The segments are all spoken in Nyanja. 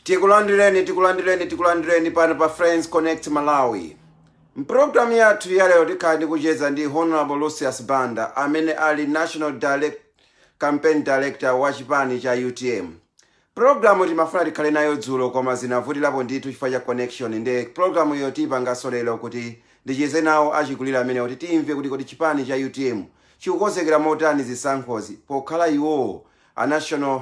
tikulandireni tikulandireni tikulandireni pano pa friends connect malawi mpulogalamu yathu yalero tikhala tikucheza ndi honorable lucius banda amene ali national campaign director wa chipani cha utm pulogalamu timafuna tikhale nayo dzulo koma zinavutirapo ndithu chifukwa cha connection nde pulogalamu iyo tipanganso lero kuti ndicheze nawo achikulire amenewa kuti timve kuti kodi chipani cha utm chikukonzekera motani zisankhozi pokhala iwowo a national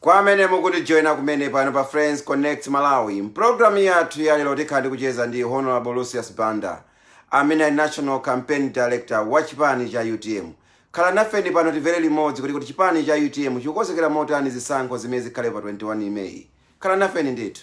Kwa amene mukutijoina kumene pano pa Friends Connect Malawi, m'programu yathu ya lero tikhala tikucheza ndi Honorable Lucius Banda amene ali National Campaign Director wa chipani cha utm. Khala nafeni pano timvere limodzi kuti kodi chipani cha utm chikukonzekera motani zisankho zimene zikhale pa 21 May. Khala nafeni ndithu.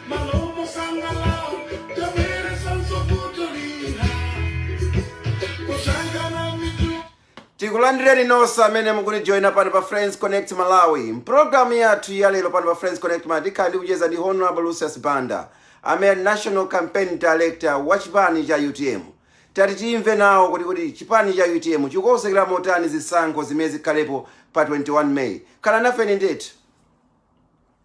tikulandireni nonse amene mukutijoyina pano pa friends connect malawi mpulogalamu yathu ya lero pano pa friends connect malawi tikhala tikucheza ndi honorable lucius banda amene ali national campaign director wa chipani cha utm tati timve nawo kuti kodi chipani cha utm chikukonzekera motani zisankho zimene zikhalepo pa 21 may khala nafeni ndithu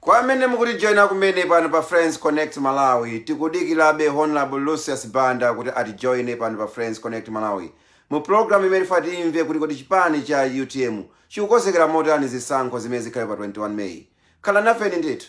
kwa amene mukutijoyina kumene pano pa friends connect malawi tikudikirabe honorable lucius banda kuti atijoyine pano pa friends connect malawi mu programu imene tifuna timve kuti kodi chipani cha utm chikukonzekera motani zisankho zimene zikhale pa 21 may khala nafeni ndithu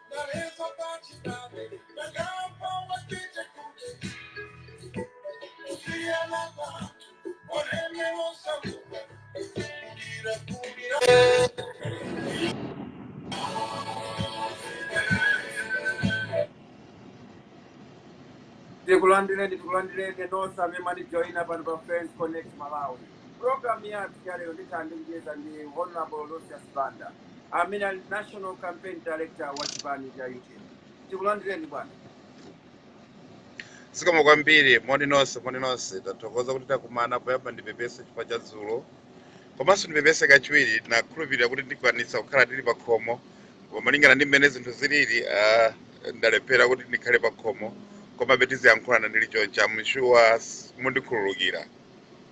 tikulandireni tikulandireni nonse amene mwatijoyina pano pa friends connect malawi programu yathu ya lero ndikhala ndikucheza ndi honorable lucius banda amene ali national campaign director wa chipani cha utm tikulandireni bwana zikomo kwambiri moni nonse moni nonse ndathokoza kuti takumana poyamba ndipepese chifukwa cha dzulo komanso ndipepese kachiwiri ndinakhulupirira kuti ndikwanitsa kukhala ndili pa khomo koma malingana ndi mmene zinthu zilili ah, ndalephera kuti ndikhale pa khomo komabe tiziyankhulana ndili choncha ndili shuwa mundikhululukira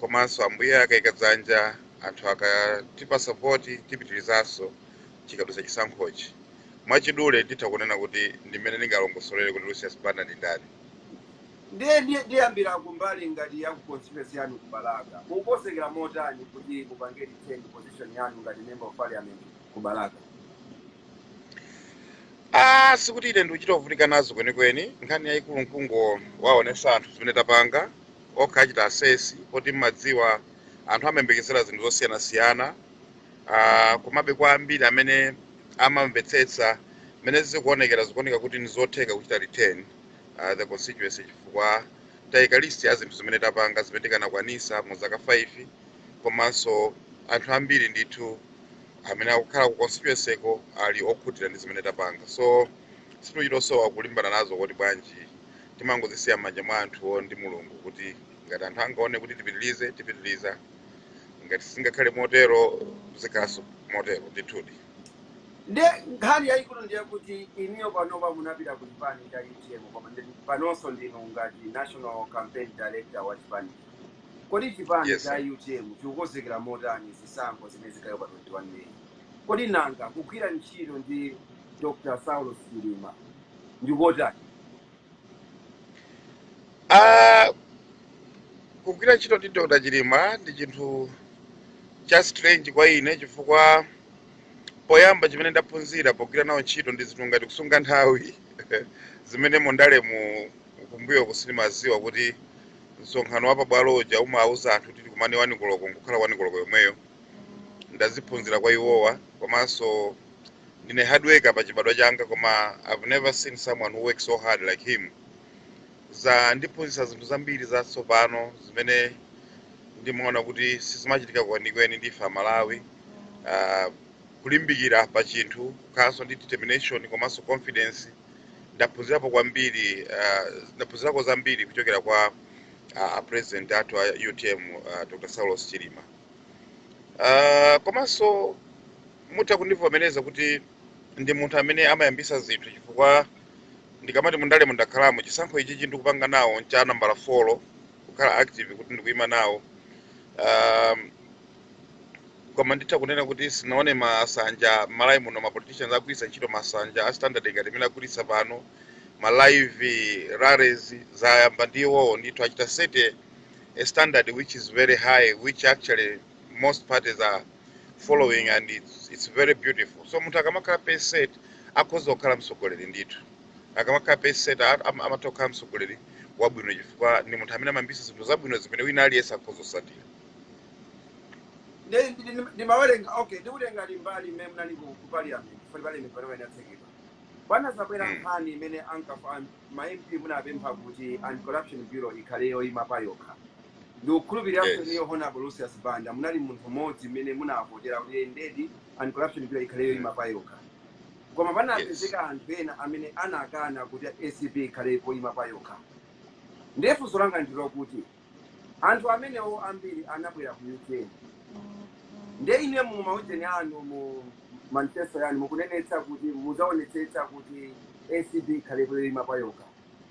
komanso ambuye akaika dzanja anthu akatipasa support tipitirizanso chikadutsa chisankhochi mwachidule nditha kunena kuti ndimene ndingalongosolere kuti lucius banda ndi ndani ndiyambira kumbali ngati ya constituency yanu ku balaka mukukonzekera motani kuti mupange defend position yanu ngati member of parliament ku balaka Ah, sikuti ine ndikuchita kuvutika nazo kwenikweni nkhani yayikulu nkungowaonesa anthu zimene tapanga okha achita assess poti mmadziwa anthu amayembekezera zinthu zosiyanasiyana uh, komabe kwa ambiri amene amamvetsetsa mmene zikuonekera zikuoneka kuti ndizotheka kuchita retain uh, the constituency chifukwa taika list ya zinthu zimene tapanga zimene tikanakwanisa mu zaka 5 komanso anthu ambiri ndithu amene akukhala ku constituency ko ali okhutira ndi zimene tapanga so sitichitosowa kulimbana nazo kuti bwanji timangozisiya m'manja mwa anthuwo ndi mulungu kuti ngati anthu angaone kuti tipitilize tipitiliza ngati singakhale motero zikhalanso motero ndithudi nde nkhani yayikulu ndiyakuti inuyo panopa munapita ku chipani cha utm koma panonso ndinu ngati national campaign director wa chipani kodi chipani cha utm chikukonzekera motani zisankho zimene zikhala pa 21 meyi kodi nanga kugwira ntchito ndi dr saulos chilima ndikotani? Ah, kugwira ntchito ndi Dr. Chilima ndi chinthu cha strange kwa ine chifukwa poyamba chimene ndaphunzira pogwira nawo ntchito ndi zinthu ngati kusunga nthawi zimene mundalemu kumbuyoku sinimaziwa kuti msonkhano wa pabwalo uja umawuza anthu kuti tikumane wani koloko nkukhala wani koloko yomweyo ndaziphunzira kwa iwowa komanso ndine hard worker pa chibadwa changa koma i've never seen someone who works so hard like him zandiphunzitsa zinthu zambiri zatsopano zimene ndimaona kuti sizimachitika kwenikweni ndife amalawi Ah, kulimbikira pa chinthu kukhalanso ndi determination komanso confidence ndaphunzirapo kwambiri ah, ndaphunzirako zambiri kuchokera kwa ah, a president athu a utm ah, dr saulos chilima Ah, komanso mutha kundivomereza kuti ndi munthu amene amayambisa zinthu chifukwa ndikamati mundalemu ndakhalamo chisankho ichichi ndikupanga nawo ncha nambala 4 kukhala active kuti ndikuyima nawo um, koma nditha kunena kuti sinaone masanja malawi muno ma politicians agwiritsa ntchito masanja a standard ngati amene agwiritsa pano ma live rallies zayamba ndi iwowo ndithu achita set a standard which is very high, which actually most parties are following and it's, it's very beautiful. So munthu akamakhala pacesetter akhoza kukhala mtsogoleri ndithu. Akamakhala pacesetter a- am- amatha kukhala mtsogoleri wabwino chifukwa ndi munthu amene amayambitsa zinthu zabwino zimene wina aliyense akhoza kusatira. Ndi- ndi- ndi- ndimawerenga okay ndikutenga limbali mmene munali ku ku parliament for parliament pano yanatsekedwa panazabwera Mm. nkhani imene ankafa ma MP munapempha kuti anti-corruption bureau ikhale yoima payokha. Ndikukhulupirira kuti Yes. inuyo Honorable Lucius Banda munali munthu mmodzi amene munavotera kuti eh, ndedi anti-corruption bureau ikhale Mm. yoima payokha. Koma Yes. panapezeka anthu ena amene anakana kuti ACB ikhale yoima payokha. Ndiye funso langa ndi lokuti Anthu amenewo ambiri anabwera ku UTM. Ndiye ine mu maujeni anu, mu manifesto yanu mukunenetsa kuti muzaonetsetsa kuti ACB ikhale yoima payokha.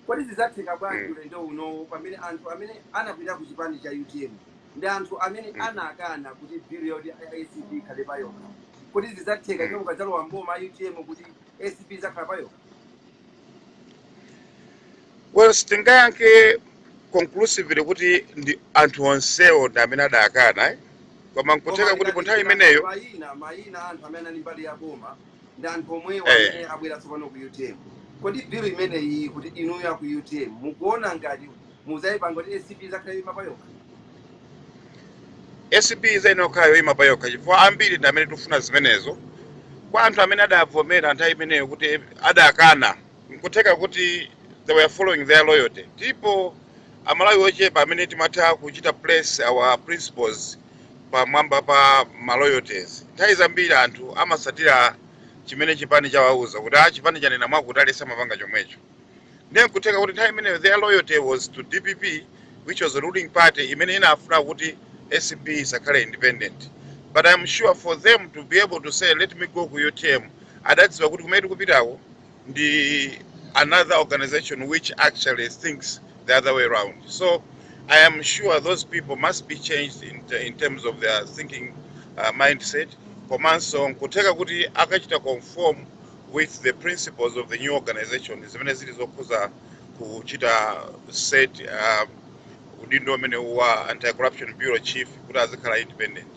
Kodi zizatheka bwanji mm. ulendo unowo pamene anthu amene anapita ku chipani cha utm ndi anthu amene mm. anakana kuti bill yoti ACB ikhale payokha kodi zizatheka mm. mukadzalowa mboma utm kuti ACB izakhala payokha? Well, sitingayankhe conclusively kuti ndi anthu onsewo ndi amene adakana eh? koma koma nkutheka kuti pa nthawi tikatengera imeneyo mayina mayina a anthu amene anali mbali ya boma ndi anthu omwewo eh, amene abwera tsopano ku utm kodi bill imeneyi kuti inuyo aku utm mukuona ngati mudzayipanga kuti acb izakhale yoima payokha acb izayenera kukhala yoyima pa yokha chifukwa ambiri ndi amene tikufuna zimenezo kwa anthu amene adavomera nthawi imeneyo kuti adakana nkutheka kuti they were following their loyalty ndipo amalawi ochepa amene timatha kuchita place our principles pamwamba pa ma loyalties nthawi zambiri anthu amasatira chimene chipani chawauza kuti a chipani chanena mwakuti aliyense amapanga chomwecho ndiye nkutheka kuti nthawi imeneyo their loyalty was to dpp which was the ruling party imene inafuna kuti acb isakhale independent but i'm sure for them to be able to say let me go ku utm adadziwa kuti kumene tikupitako ndi another organization which actually thinks the other way around so i am sure those people must be changed in, te- in terms of their thinking uh, mindset komanso nkutheka kuti akachita conform with the principles of the new organization zimene zili zokhuza kuchita set uh, udindo umenewu wa anti-corruption bureau chief kuti azikhala independent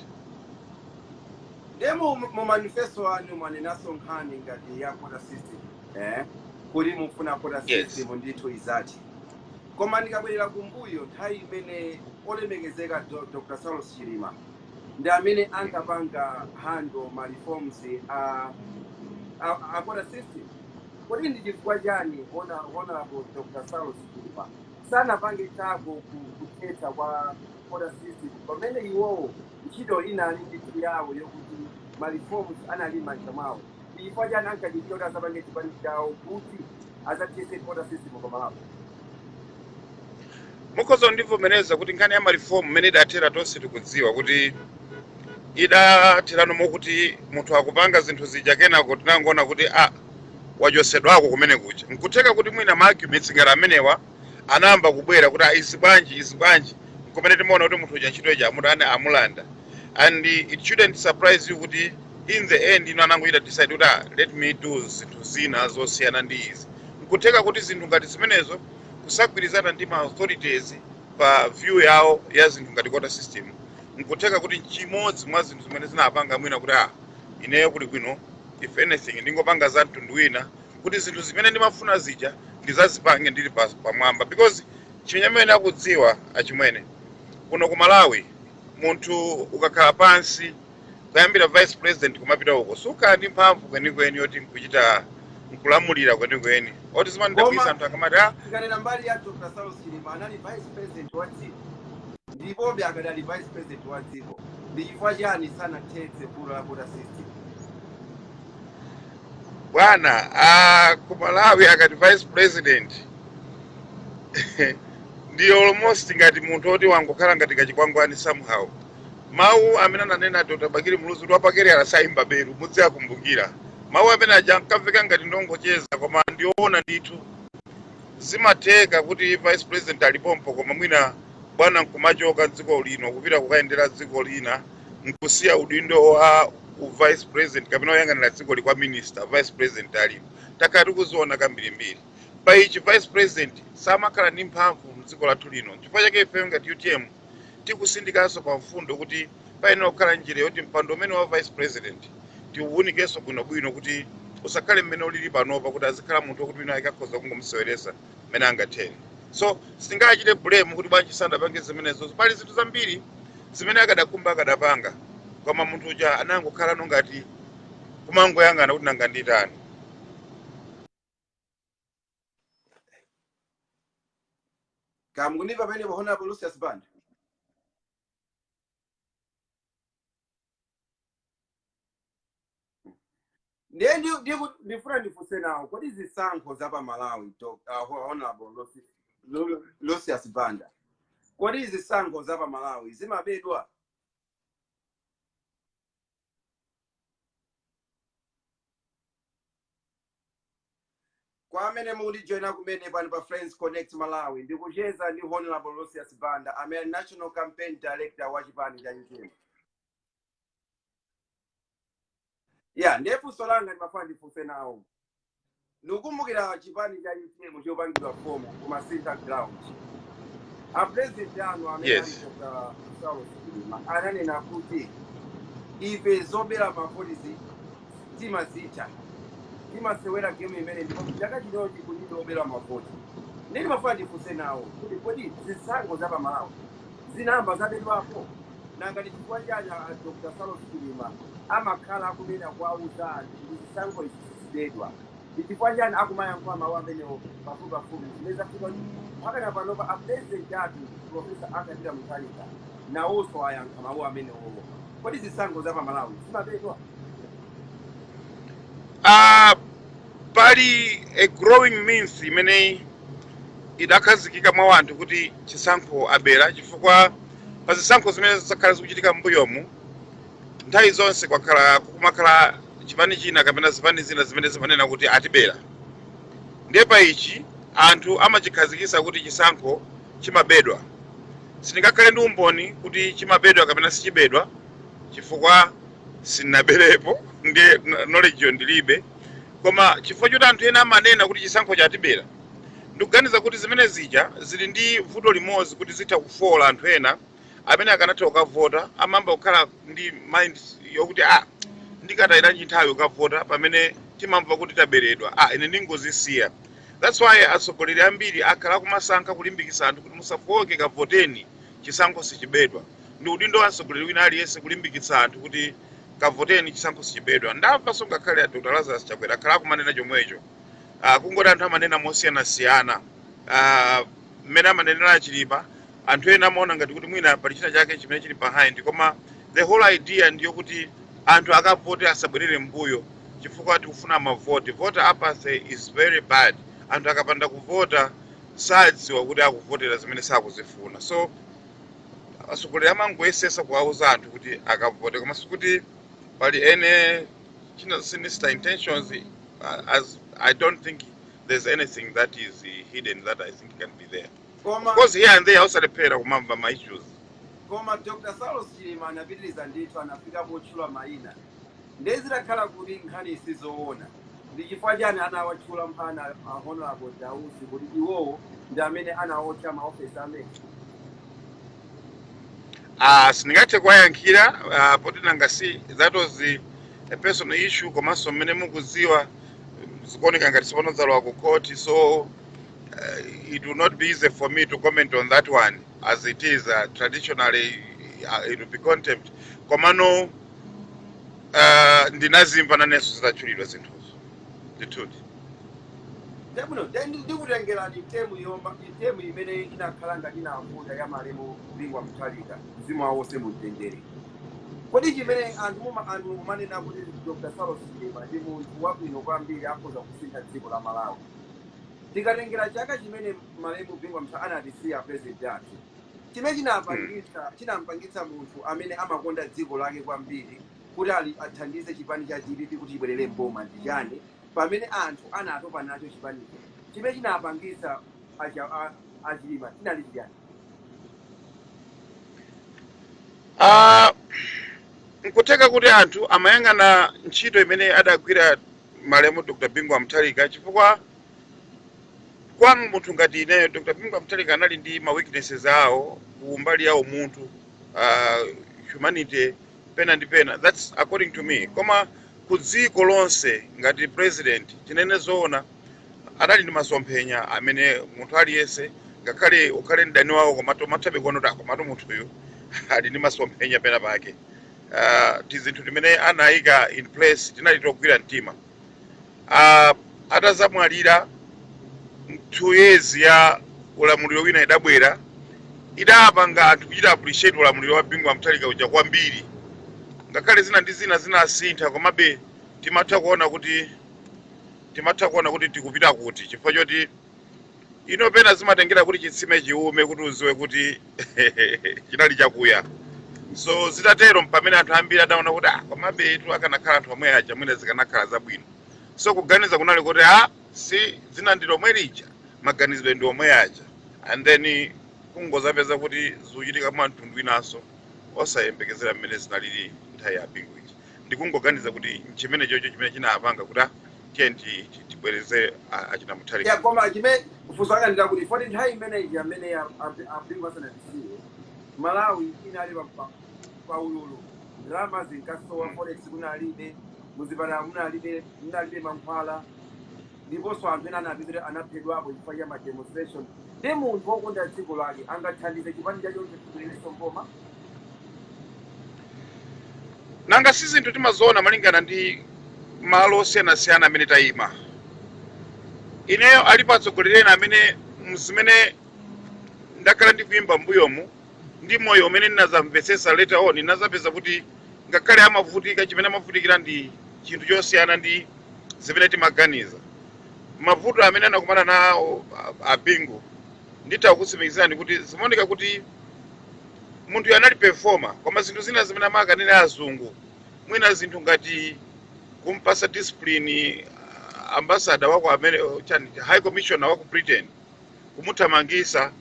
Nde mu, mu manifesto anu mwanenaso nkhani ngati ya quota system eh? kuti mukufuna quota Yes. system ndithu izathe koma ndikabwerera kumbuyo nthawi imene olemekezeka Do- Dr. Saulos Chilima ndi amene ankapanga handle ma reforms a, a, a quota system kodi ndi chifukwa chani hona honorable Dr. Saulos Chilima sanapangepo zakuti ku- kuthetsa kwa quota system pamene iwowo Ntchito inali ndithu yawo yokuti ma reforms anali mmanja mwawo ndi chifukwa chani ankadikira kuti azapange chipani chawo kuti azathese quota system pa Malawi. Mukhoza kundivomereza kuti nkhani ya ma reform mmene idathera tonse tikudziwa kuti idathera mokuti munthu akupanga zinthu zija kenako tinangoona kuti ah wachosedwako kumene kuja nkutheka kuti mwina ma arguments ngati amenewa anayamba kubwera kuti "Ah, izi bwanji izi bwanji nkumene timaona kuti munthu uja ntchito ija amutani amulanda and it shouldn't surprise you kuti in the end iwo anangochita decide kuti "Ah, let me do zinthu zina zosiyana ndi izi nkutheka kuti zinthu ngati zimenezo kusagwirizana ndi ma authorities pa view yawo ya zinthu ngati quota system nkutheka kuti nchimodzi mwa zinthu zimene zinapanga mwina kuti ah ineyo kuli bwino if anything ndingopanga za mtundu wina kuti zinthu zimene ndimafuna zija ndizazipange ndili pa, pamwamba because chimene mukudziwa achimwene kuno ku Malawi munthu ukakhala pansi kuyambira vice president kumapita uko sukhala ndi mphamvu kwenikweni yoti nkuchita nkulamulira kwenikweni moti zimandidabwisa anthu akamati ah, tikanena mbali ya dr saulos chilima anali vice president wa dziko ndipo akadali vice president wa dziko ndi chifukwa chani sanathetse vuto la quota system bwana ah, ku malawi akati vice president ndi almost ngati munthu oti wangokhala ngati kachikwangwani somehow mawu amene ananena dr bakili muluzi kuti wapakaliyala sayimba belu mudziwakumbukira mawu amene aja ankamveka ngati ndongocheza koma ndiowona ndithu zimatheka kuti vice president alipompo koma mwina bwana nkumachoka dziko lino kupita kukayendera dziko lina nkusiya udindo wa u vice president kapena woyang'anira dzikoli kwa minister vice president alipo takhala tikuziona kambirimbiri pa ichi vice president samakhala ndi mphamvu mdziko lathu lino chifukwa chake ife ngati utm tikusindikanso pa mfundo kuti payenera kukhala njira yoti mpando umenewu wa vice president tiuwunikenso bwinobwino kuti usakhale mmene ulili panopa kuti azikhala munthu wokuti wina ake akhoza kungomuseweresa mmene angathere so sitingachite blame kuti bwanji sanapange zimenezo pali zinthu zambiri zimene akadakhumba akadapanga koma munthu uja anangokhalano ngati kumangoyang'ana kuti nanga nditani kaya mukundimva pamenepa honorable lucius band ndiye ndi- ndiku- ndifuna ndifunse nawo kodi zisankho za pa malawi Doc- uh, honorable Losi- Lo- lucius banda kodi zisankho za pa malawi zimabedwa Kwa amene mukundijoina kumene pano pa Friends Connect Malawi, ndikucheza ndi Honorable Lucius Banda, amene ali National Campaign Director wa chipani cha UTM. Ya, ndiye funso langa ndimafuna ndifunse nawo. Ndikukumbukira chipani cha UTM chikupangidwa fomu ku Masintha Ground. A president anu amene ali Yes. Dr. Saulos Chilima ananena kuti ife zobera mavoti timazitha timasewera game imene ndipo chaka chinochi kulibe kubera mavoti nde ndimafuna ndifunse nawo kuti kodi zisankho za pamalawi zinayamba zabedwapo nanga ndi chifukwa chani a dr saulos chilima amakhala akunena kuwauza anthu kuti zisankho izi sizibedwa ndi chifukwa chani akumayankhula mawu amenewo pafupipafupi zimene zafika kuti pakana panopa a president athu profesa arthur mutharika nawonso ayankha mawu amenewo Kodi zisankho za pamalawi zimabedwa? Ah, pali a growing myth imene idakhazikika mwa anthu kuti chisankho abera chifukwa pa zisankho zimene zakhala zikuchitika m'mbuyomu nthawi zonse kwakhala kumakhala chipani china kapena zipani zina zimene zimanena kuti atibera ndiye pa ichi anthu amachikhazikisa kuti chisankho chimabedwa Sindingakhale ndi umboni kuti chimabedwa kapena sichibedwa chifukwa sindinaberepo ndiye knowledge yo ndilibe. Koma chifukwa choti anthu ena amanena kuti chisankho atibera, ndikuganiza kuti zimene zija zili ndi vuto limodzi kuti zitha kufoola anthu ena amene akanatha kukavota amayamba kukhala ndi mind yokuti ah, ndikatayiranji nthawi kukavota pamene timamva kuti taberedwa, ah, ine ndingozisiya. That's why atsogoleri ambiri akhala akumasankha kulimbikitsa anthu kuti musafooke kavoteni chisankho sichibedwa. Ndi udindo wa mtsogoleri wina aliyense kulimbikitsa anthu kuti kavoteni chisankho sichibedwa. Ndamvanso ngakhale a Dr. Lazarus Chakwera akhala akumanena chomwecho. Uh, kungoti anthu amanena mosiyanasiyana. Uh, mmene amanenera achilima anthu ena amaona ngati kuti mwina pali china chake chimene chili behind koma the whole idea ndiyo kuti anthu akavote asabwerere mbuyo chifukwa tikufuna mavote voter apathy is very bad anthu akapanda kuvota sadziwa kuti akuvotera zimene sakuzifuna so atsogoleri amangoyesetsa kuwauza anthu kuti akavote koma sikuti pali any sinister intentions uh, as i don't think there's anything that is uh, hidden that I think can be there. 'cause of course, here and there, osalephera kumamva ma issues. koma dr saulos chilima anapitiriza ndithu anafika potchula mayina ndiye zidakhala kuti nkhani isizoona ndi chifukwa chani anawatchula mpaka a honorable dausi kuti iwowo ndi amene anawotcha maofesi amene Ah, sindingathe kuwayankhira ah, poti nanga si that was the, a personal issue komanso mmene mukudziwa zikuoneka ngati tsopano zalowa ku court so uh, it will not be easy for me to comment on that one as it is uh, traditionally uh, it will be contempt komano uh, ndinazimva nanenso zidatchulidwa zinthuzo ndithudi ndabwino ndikutengereni term yoyamba term imene inakhala ngati inavuta ya malemu bingu wa mutharika mzimu wawo uwuse mumtendere Kodi chimene anthu muma anthu mukumanena kuti Dr. Saulos Chilima ndi munthu wabwino kwambiri akhoza kusintha dziko la Malawi? Tikatengera chaka chimene malemu Bingu wa Mutharika anatisiya President athu, chimene Mm. chinapangitsa chinampangitsa munthu amene amakonda dziko lake kwambiri kuti athandize chipani cha dpp kuti chibwerere m'boma ndi chani pamene anthu anatopa nacho chipanicho? Chimene chinapangitsa aja a a chilima chinali chiyani Ah, nkutheka kuti anthu amayang'ana ntchito imene adagwira malemu dr bingu wa mutharika chifukwa kwa munthu ngati ineyo dr bingu wa mutharika anali ndi ma weaknesses awo ku mbali ya umunthu ah, humanity pena ndi pena that's according to me koma ku dziko lonse ngati president tinene zoona adali ndi masomphenya amene munthu aliyense ngakhale ukhale mdani wawo koma umathabe kuona kuti ah komatu munthuyu ali ndi masomphenya pena pake uh, tizinthu timene anayika in place tinali togwira mtima uh, atazamwalira two years ya ulamuliro wina idabwera idapanga anthu kuchita appreciate ulamuliro wa bingu wa mutharika uja kwambiri ngakhale zina ndi zina zinasintha komabe timatha kuona kuti timatha kuona kuti tikupita kuti chifukwa choti ino pena zimatengera kuti chitsime chiume kuti uziwe kuti chinali chakuya so zitatero mpamene anthu ambiri adaona kuti ah komabetu akanakhala anthu omwe aja mwina zikanakhala zabwino so kuganiza kunali kuti ah si dzina ndi lomwe lija maganizidwe ndi omwe aja and then kungozapeza kuti zikuchitika mwa mtundu winanso osayembekezera mmene zinalili nthawi ya bingu ija ndikungoganiza kuti nchimenechocho chimene chinapanga kuti ah, tiye ti- ti- tibwereze a- achina mutharika ya koma chimene funso langa ndirakuti foti nthawi imeneyi amene abingu asanatisiye malawi inali pa- pa- pa ululu ndalama zinkasowa forex kunalibe muzipatala munalibe munalibe mankhwala ndiponso anthu ena anapita kuti anaphedwapo chifukwa cha ma demonstration ndi munthu wokonda dziko lake angathandize chipani chachoncho chibwererenso mboma nanga si zinthu timaziona malingana ndi malo osiyanasiyana amene tayima ineyo alipo atsogoleri ena amene mmene ndakhala ndikuyimba mbuyomu ndi moyo umene ndinazamvetsetsa later on ndinazapeza kuti ngakhale amavutika chimene amavutikira ndi chinthu chosiyana ndi zimene timaganiza. Mavuto amene anakumana nawo a- a Bingu nditha kukutsimikizirani kuti zimaoneka kuti munthuyu anali performer koma zinthu zina zimene amakanena azungu mwina zinthu ngati kumpasa discipline ah, ambassador wa ku amene chani high commissioner wa ku britain kumuthamangisa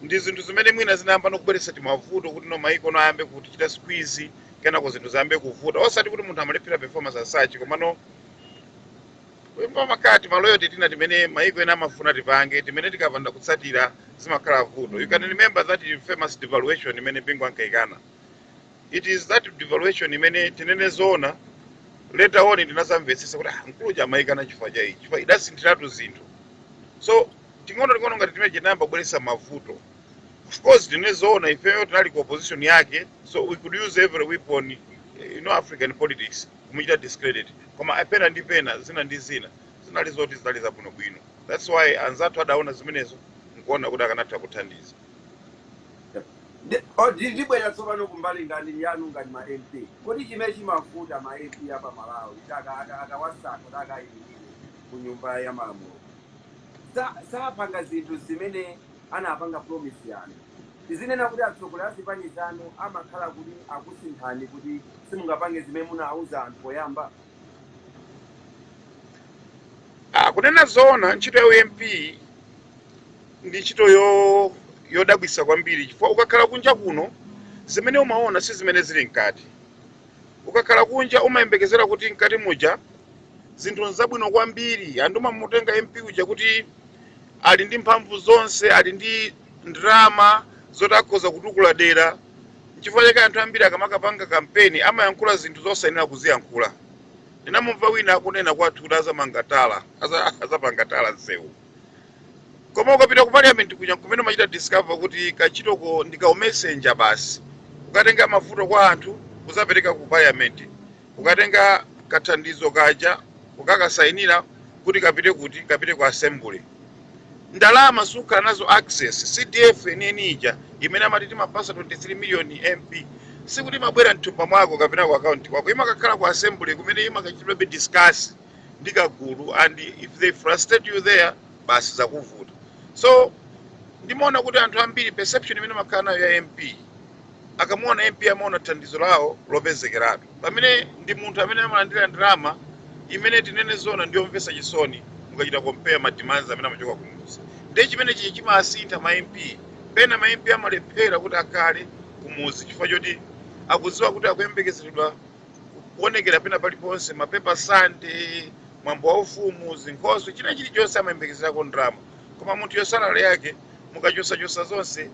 ndi zinthu zimene mwina zinayambano kubweretsa timavuto kuti no maiko ena ayambe kutichita squeeze kenako zinthu ziyambe kuvuta osati kuti munthu amalephera performance as such komano pamakhala timaloyoti tina timene maiko ena amafuna tipange timene tikapanda kutsatira zimakhala vuto you can remember that famous devaluation imene bingu ankaikana It is that devaluation imene tinene zoona later on ndinazamvetsetsa kuti ah, mkulu uja amayikana chifukwa cha ichi chifukwa idasinthiratu zinthu so ting'ono ting'ono ngati timeneti tinayamba kubweretsa mavuto of course tinene zoona ifeyo tinali ku opposition yake so we could use every weapon eh, you know african politics kumuchita discredit koma pena ndi pena zina ndi zina zinali zoti zinali zabwinobwino that's why anzathu adaona zimenezo nkuona kuti akanatha kuthandiza Ndi- o, ndi- ndibwera tsopano kumbali ngati yanu ngati ma mp kodi chimene chimavuta ma mp a pa malawi kuti aka- aka- akawasankha kuti akayimirire ku nyumba ya malamulo Sa- sapanga zinthu zimene anapanga promise yanu tizinena kuti atsogoleri a zipani zanu amakhala kuti akusinthani kuti simungapange zimene munauza anthu poyamba Ah, kunena zoona ntchito ya u mp ndi ntchito yo yodabwisa kwambiri chifukwa ukakhala kunja kuno zimene umaona si zimene zili mkati ukakhala kunja umayembekezera kuti mkati muja zinthu nzabwino kwambiri anthu amamutenga mp uja kuti ali ndi mphamvu zonse ali ndi ndalama zoti akhoza kutukula dera N'chifukwa chake anthu ambiri akamakapanga kampeni amayankhula zinthu zosayenera kuziyankhula. Ndinamumva wina akunena kwathu kuti azamanga tala, azapanga tala nsewu. Koma ukapita ku parliament kuja nkumene umachita discover kuti kantchitoko ndi ka u messenger basi. Kukatenga mavuto kwa anthu kuzapereka ku parliament. Kukatenga kathandizo kaja kukakasayinira kuti kapite kuti kapite ku assembly. ndalama sukhala nazo access CDF yeniyeni ija imene amati timapasa 23 million MP sikuti imabwera mthumba mwako kapena ku account kwako imakakhala ku assembly kumene imakachitidwabe discuss ndi kagulu and if they frustrate you there basi zakuvuta so ndimaona kuti anthu ambiri perception imene amakhala nayo ya MP Akamuona MP amaona thandizo lawo lopezekeratu pamene ndi munthu amene amalandira ndalama imene tinene zoona ndiyomvesa chisoni mukachita compare ma demands amene amachoka kumudzi ndiye chimene chija chimawasintha ma MP pena ma MP amalephera kuti akhale kumudzi chifukwa choti akudziwa kuti akuyembekezeredwa kuonekera pena paliponse mapepa sande mwambo wa ufumu zinkhoswe china chilichonse amayembekezerako ndalama koma munthuyo salary yake mukachosachosa zonse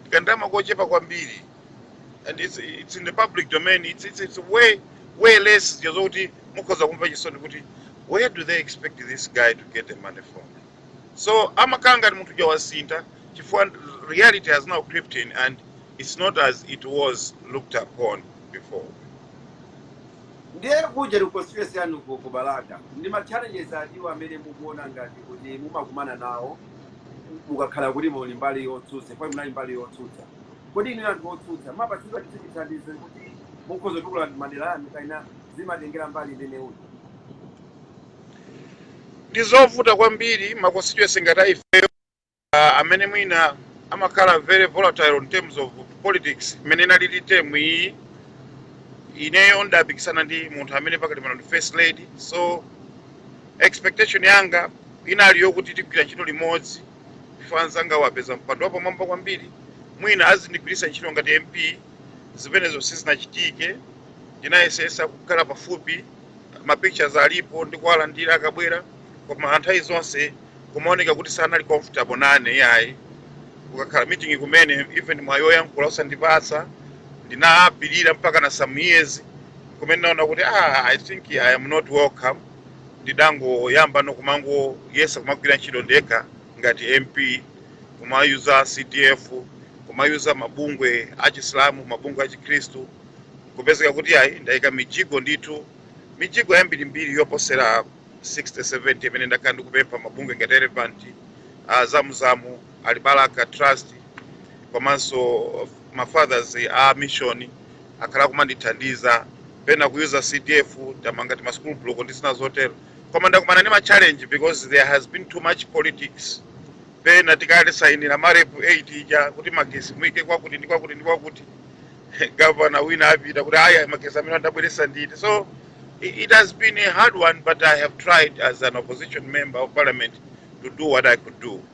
ndikandalama kochepa kwambiri and it's, it's in the public domain it's, it's, it's way, way less zija zokuti mukhoza kumva chisoni kuti where do they expect this guy to get the money from so amakhala ngati munthu uja wasintha chifukwa reality has now crept in and it's not as it was looked upon before ndiye kuja ku constituency yanu ku ku balaka ndi ma challenges atiwo amene mukuona ngati kuti mumakumana nawo ukakhala kuti muli mbali yotsutsa poti munali mbali yotsutsa kodi inu anthu otsutsa mumapatsidwa chithu chithandizo kuti mukhoza kutukula madera anu kaina zimatengera mbali imene uli ndi zovuta kwambiri ma constituency ngati a ifeyo uh, amene mwina amakhala very volatile in terms of politics imene inalili term iyi ineyo ndidapikisana ndi munthu amene pakali pano ndi first lady so Expectation yanga inali yokuti tigwira ntchito limodzi chifukwa anzangawo apeza mpando wapamwamba kwambiri, mwina azindigwiritsa ntchito ngati MP. Zimenezo sizinachitike. Ndinayesetsa kukhala pafupi, ma pictures alipo, ndikuwalandira akabwera, koma nthawi zonse kumaoneka kuti sanali comfortable nane iyayi. Kukakhala meeting kumene, even mwayi woyankhula osandipatsa. Ndinapirira mpakana some years kumene ndinaona kuti ah, I think I am not welcome. ndidangoyambano kumangoyesa kumagwira ntchito ndekha ngati mp kumayuza cdf kumayuza mabungwe achisilamu mabungwe achikhristu kupezeka kuti ayi ndayika mijigo ndithu mijigo yambirimbiri yoposera 60 70 imene ndakhala ndikupempha mabungwe ngati elephant Zam Zam alibalaka trust komanso ma fathers a mission akhala kumandithandiza pena kuyuza cdf tamanga tima school block ndi zina zotero koma ndakumana ndi ma challenge because there has been too much politics pena tikaisainira marep 8 ija kuti magesi muike kwakuti ndi kwakuti ndi kwakuti gavana wina apita kuti aya magesi amenewa ndabweresa ndine so i- it has been a hard one but i have tried as an opposition member of parliament to do what i could do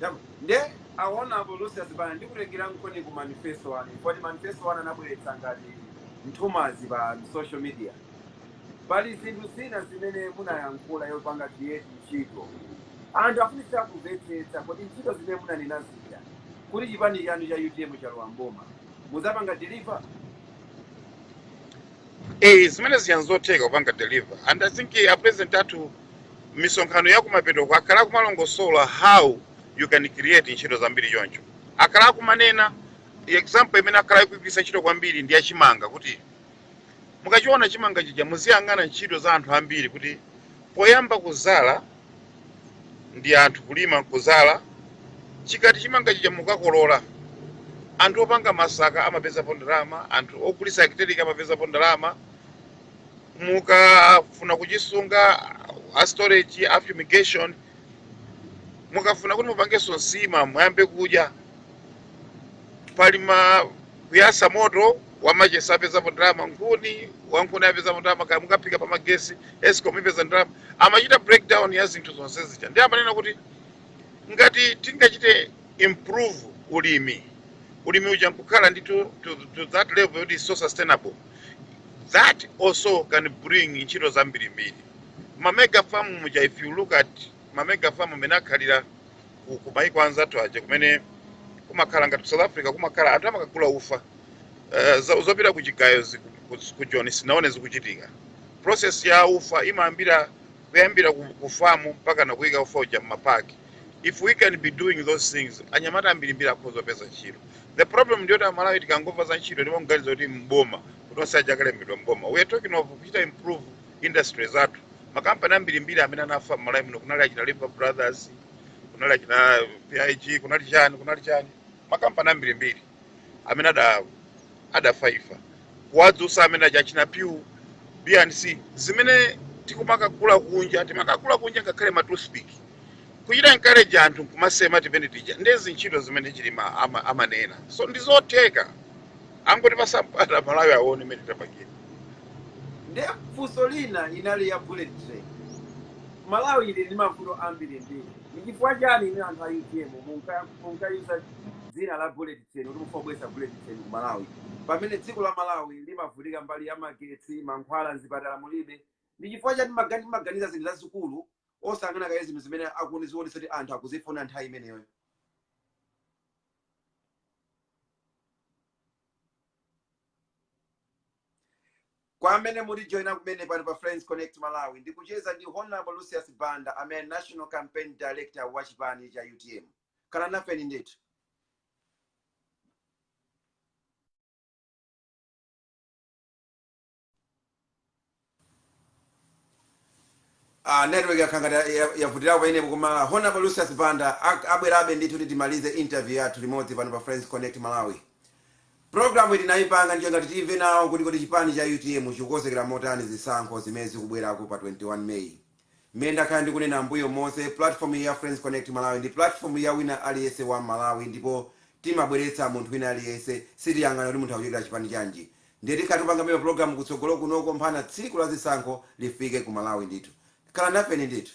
Chabwino. Nde Honourable Lucius Banda ndikutengerankoni ku manifesto anu poti manifesto anu anabweretsa ngati nthumanzi pa social media. Pali zinthu zina zimene munayankhula yopanga create ntchito. Anthu afunitsitsa kumvetsetsa kodi ntchito zimene munanena zija kuti chipani chanu cha utm chalowa m'boma muzapanga deliver? Eh, zimene zija nzotheka kupanga deliver and i think eh, a president athu misonkhano ya kumapetoko akhala akumalongosola how you can create ntchito zambiri choncho akhala akumanena example imene akhala akuigwiritsa ntchito kwambiri ndi yachimanga kuti mukachiona chimanga chija muziyang'ana ntchito za anthu ambiri kuti poyamba kuzala ndi anthu kulima nkuzala chikati chimanga chija mukakolola anthu opanga masaka amapezapo ndalama anthu ogulisa actellic amapezapo ndalama mukafuna kuchisunga a storage a fumigation mukafuna kuti mupangenso nsima muyambe kudya pali ma kuyasa moto wamachesa apezapo ndalama nkhuni wankhuni apezapo ndalama kaya mukaphika pa magesi escom ipeza ndalama amachita breakdown ya zinthu zonse zija ndiye amanena kuti ngati tingachite improve ulimi ulimi uja nkukhala ndi to, to, to that level yoti so sustainable that also can bring ntchito zambirimbiri mamega farm muja if you look at mamega farm amene akhalira ku, ku maiko anzathu aja kumene kumakhala ngati ku south africa kumakhala anthu amakagula ufa uh, zo- zopita ku chigayo zi- ku- ku- ku joni sinaone zikuchitika process ya ufa imayambira kuyambira ku, ku famu mpakana kuyika ufa uja mmapaki if we can be doing those things anyamata ambirimbiri akhoza kupeza ntchito the problem ndiyoti amalawi tikangomva za ntchito ndipo mganizo kuti mboma kuti onse aja akalembedwa mboma we are talking of kuchita improve industry zathu makampani ambirimbiri amene anafa m'malawi muno kunali achina lever brothers kunali achina pig kunali chani kunali chani makampani ambirimbiri amene ada adafaifa kuwadzutsa amene aja achina pew bnc zimene tikumakagula kunja timakagula kunja ngakhale ma toothpick kuchita encourage anthu nkumasema timene tija nde zintchito zimene chilima ama- amanena so ndizotheka angoti pasampata malawi aone mene tapangira nde funso lina inali ya bullet train malawi ili ndi mavuto ambiri mbiri ndi chifukwa chani inu anthu a utm munka- munkayusa dzina la bullet train kuti mufuna kubweretsa bullet train ku malawi pamene dziko la malawi limavutika mbali ya magetsi mankhwala mzipatala mulibe ndi chifukwa chani magani timaganiza zinthu zazikulu osayang'ana kaye zinthu zimene zikuonetsa kuti anthu akuzifuna nthawi imeneyo kwa amene mukutijoyina kumene pano pa friends connect malawi ndikucheza ndi honorable lucius banda amene national campaign director wa chipani cha utm khala nafeni ndithu Ah, network yakhala ngati ya- ya- yavutirapo pamenepo koma honorable lucius banda ak- abwerabe ndithu kuti timalize interview yathu limodzi pano pa friends connect malawi programuyi tinayipanga n'cholinga choti timve nawo kuti kodi chipani cha utm chikukonzekera motani zisankho zimene zikubwerako pa 21 may Mmene ndakhala ndikunena mmbuyo monse, pulatifomu iyi ya Friends Connect Malawi ndi pulatifomu ya wina aliyense wa Mmalawi ndipo timabweretsa munthu wina aliyense, sitiyang'ana kuti munthu akuchokera chipani chanji. Ndiye tikhala tikupangabe mapulogalamu kutsogolo kunoko mpakana tsiku la zisankho lifike ku Malawi ndithu. Khala nafeni ndithu.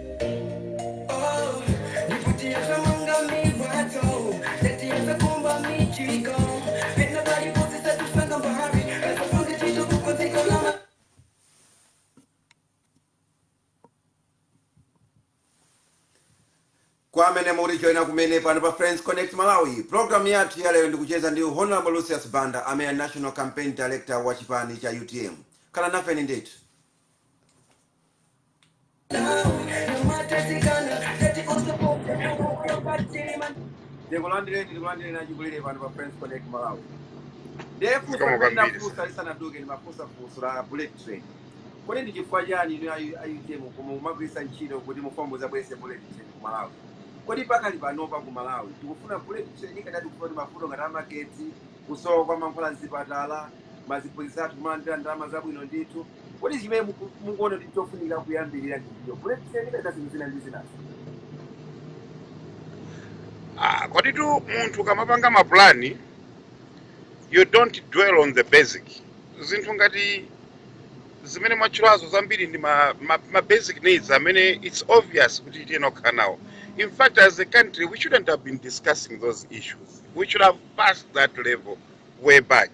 kwa amene mukutijoyina kumene pano pa friends connect malawi programu yathu ya lero ndikucheza ndi honorable lucius banda amene ali national campaign director wa chipani cha utm khala nafeni ndithu ndikulandireni ndikulandireni achikulire pano pa friends connect malawi ndathokoza kumene kwambiri funso lisanaduke ndimafunsa funso la bullet train kodi ndi chifukwa chani inu ayu- ayutm koma mumagwiritsa ntchito kuti mufuna mudzabweretse bullet train ku malawi kodi pakali panopa ku malawi tikufuna bullet train kapena tikufuna kuti mavuto ngati amagetsi kusowa kwa mankhwala mzipatala maziphunzitsi athu kumalandira ndalama zabwino ndithu kodi chimene muku- mukuona kuti chofunika kuyambirira ndi ndiyo bullet train kapena zinthu zina ndi zinazo Ah, koditu munthu ukamapanga mapulani you don't dwell on the basic zinthu ngati zimene mwatchulazo zambiri ndi ma, ma, ma basic needs amene it's obvious kuti tiyenera kukhala nawo in fact as a country we shouldn't have been discussing those issues we should have passed that level way back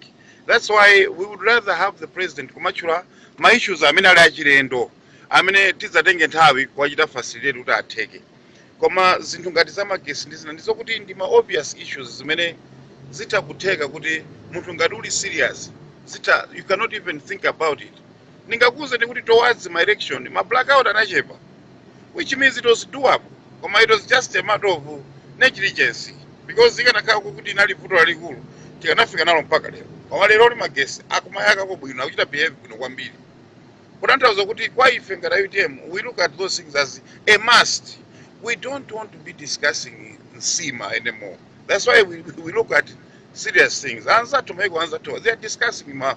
that's why we would rather have the president kumatchula ma issues amene ali achilendo amene tidzatenge nthawi kuwachita facilitate kuti atheke koma zinthu ngati za magesi ndi zina ndizokuti ndi ma obvious issues zimene zitha kutheka kuti munthu ngati uli serious zitha you cannot even think about it ndingakuuzeni kuti towards ma election ma blackout anachepa which means it was doable koma it was just a matter of negligence because ikanakhala kuti inali vuto lalikulu tikanafika nalo mpaka lero koma lero li magesi akumayakako bwino akuchita behave bwino kwambiri kutanthauza kuti kwa ife ngati a utm we look at those things as a must we don't want to be discussing nsima anymore that's why we, we look at serious things anzathu maiko anzathu they are discussing ma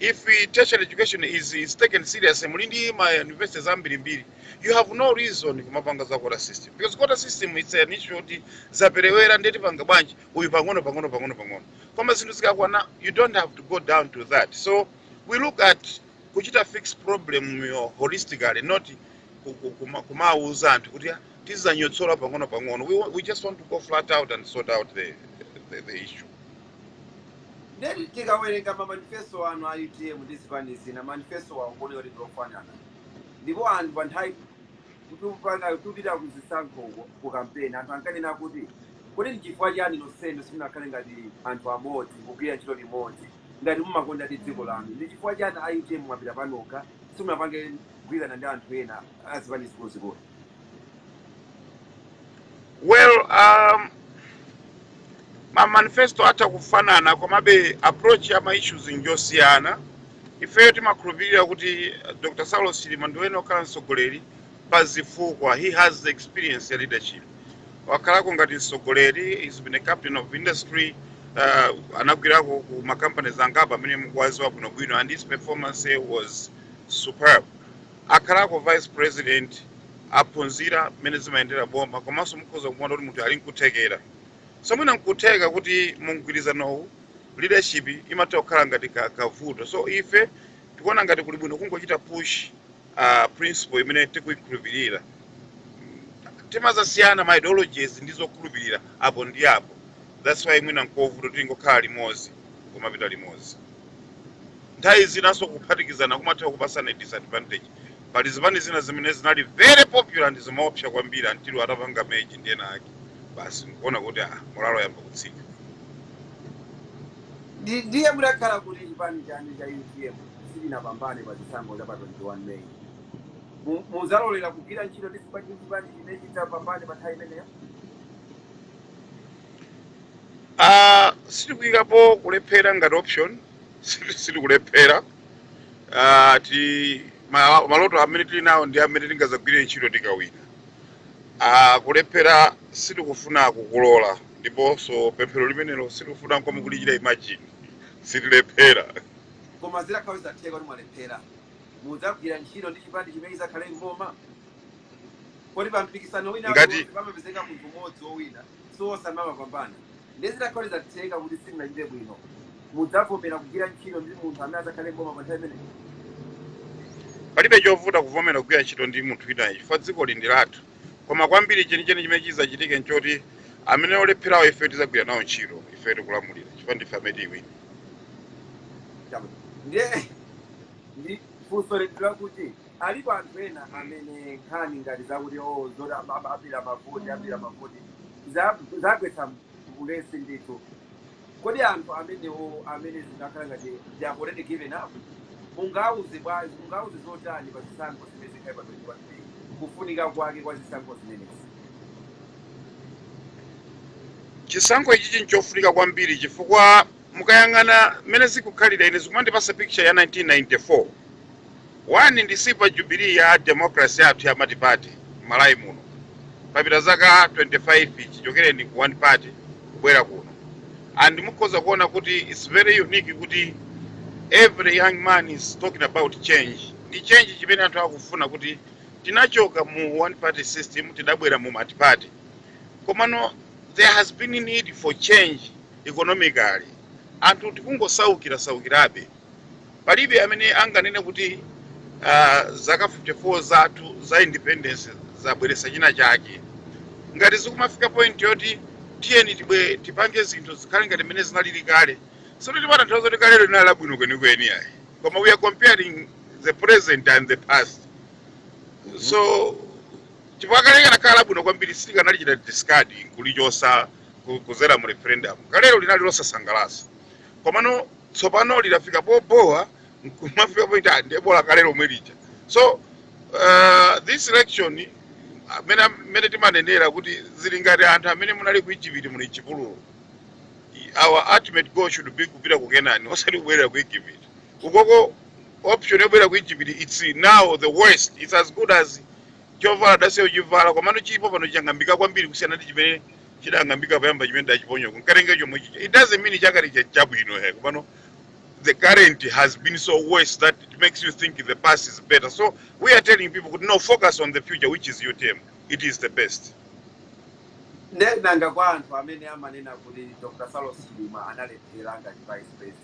If tertiary education is, is taken seriously, muli ndi ma universities ambirimbiri, you have no reason kumapanga za quota system because quota system it's an issue yoti zaperewera ndiye tipanga bwanji uyu pang'ono pang'ono pang'ono pang'ono koma zinthu zikakwana you don't have to go down to that so we look at kuchita fix problem yo holistically not ku- ku- kuma- kumawuza anthu kuti "Ah, tizanyotsola pang'ono pang'ono we, wa- we just want to go flat out and sort out the, the, the issue Nde tikawerenga ma manifesto anu a utm ndi zipani zina manifesto awo kuoneka kuti ndiofanana ndipo anthu pa nthawi tikupanga tikupita ku zisankho uko ku kampeni anthu ankanena kuti kodi ndi chifukwa chiyani nonsenu simunakhale ngati anthu amodzi kugwira ntchito limodzi ngati mumakondadi dziko lanu ndi chifukwa chiyani a utm mwapita panokha simunapange kugwirana ndi anthu ena a zipani zikuluzikulu well um, ma manifesto atha kufanana komabe approach ya ma issues njosiyana ifeyo timakhulupirira kuti eh, dr saulos chilima ndi mwene okhala mtsogoleri pa zifukwa he has the experience ya leadership wakhalako ngati mtsogoleri he's been a captain of industry uh, anagwirako ku makampaniz angapo amene mukuwaziwa bwinobwino and his performance was superb Akhalako vice president aphunzira mmene zimayendera boma komanso mukhoza kumuona kuti munthu ali nkuthekera so mwina nkutheka kuti mu mgwirizanowu leadership imatha kukhala ngati ka, kavuto so ife tikuona ngati kuli bwino kungochita push uh, principle imene tikuikhulupirira timazasiyana ma ideologies ndi zokhulupirira apo ndi apo that's why mwina nkovuta tingokhala limodzi kumapita limodzi nthawi zinanso kuphatikizana kumatha kupasana disadvantage pali zipani zina zimene zinali very popular ndi zimaopsa kwambiri until atapanga merge ndi ena ake basi nkuona kuti ah, moralo yayamba kutsika Ndi- ndiye mutakhala kuti chipani chanu cha utm sichinapambane pa chisankho cha pa 21 may Mu- muzalolera kugwira ntchito ndi chipani ndi chipani chimene chitapambane pa nthawi imeneyo Ah, sitikuyikapo kulephera ngati option Siti- sitikulephera Ah, ti ma- maloto amene tili nawo ndi amene tingazagwire ntchito tikawina Ah, kulephera sitikufuna kukulola ndiponso pemphero limenelo sitikufuna nkomwe kulichita imagine sitilephera koma zitakhala kuti zatheka kuti mwalephera mudzagwira ntchito ndi chipani chimene chizakhale mboma kodi pa mpikisano wina Ngati- uliwonse pamapezeka munthu mmodzi wowina si onse amapambana nde zitakhala kuti zatheka kuti simunachite bwino mudzavomera kugwira ntchito ndi munthu amene adzakhale mboma pa nthawi imeneyo palibe chovuta kuvomera kugwira ntchito ndi munthu winayo chifukwa dzikoli ndi lathu koma kwambiri chenicheni chimene chidzachitike nchoti amene olepherawo ife tidzagwira nawo ntchito ife tikulamulira chifukwa ndife amene tiwine Chama. ndiye ndi funso lili lakuti alipo anthu ena amene nkhani ngati zakuti o zoti am- am- abera mavoti abera mavoti za- zawagwetsa ulesi ndithu kodi anthu amenewo amene zikukhala ngati they have already given up mungawauze bwanji mungawauze zotani pa zisankho zimene zikhale pa 21 may kufunika kwake kwa zisankho zimenezi chisankho ichichi nchofunika kwambiri chifukwa Mukayang'ana mmene zikukhalira ine zikumandipasa picture ya 1994. One ndi silver jubilee ya democracy yathu ya multiparty mmalawi muno. Papita zaka 25 chichokereni ku one party kubwera kuno. And mukhoza kuona kuti it's very unique kuti every young man is talking about change. Ndi change chimene anthu akufuna kuti tinachoka mu one party system tidabwera mu multiparty. Komano there has been need for change economically anthu tikungosaukira saukirabe palibe amene anganene kuti uh, zaka 54 zathu za independence zabweretsa china chake ngati zikumafika point yoti tiyeni tibwe tipange zinthu zikhale ngati mmene zinalili kale sikuti timatanthauza kuti kalero linali labwino kwenikweni ayi koma we are comparing the present and the past so chifukwa kale likanakhala labwino kwambiri sitikanalichita discard kulichosa ku- kuzera mu referendum kalero linali losasangalatsa komano tsopano lidafika pobowa nkumafika poti ndi bola kale lomwe lija so uh, this election mmene mmene timanenera kuti zili ngati anthu amene munali ku Egypt muli m'chipululu our ultimate goal should be kupita ku Kenani osati kubwerera ku Egypt ukoko option yobwerera ku Egypt it's now the worst it's as good as chovala udasiya kuchivala komano chilipo pano chang'ambika kwambiri kusiyana ndi chimene chidang'ambika poyamba chimene udachiponya kukatenga chomwe chija it doesn't mean chakale cha- chabwino he komano the current has been so worse that it makes you think the past is better so we are telling people kuti no focus on the future which is utm it is the best nde nanga kwa anthu amene amanena kuti dr saulos chilima analephera ngati vice president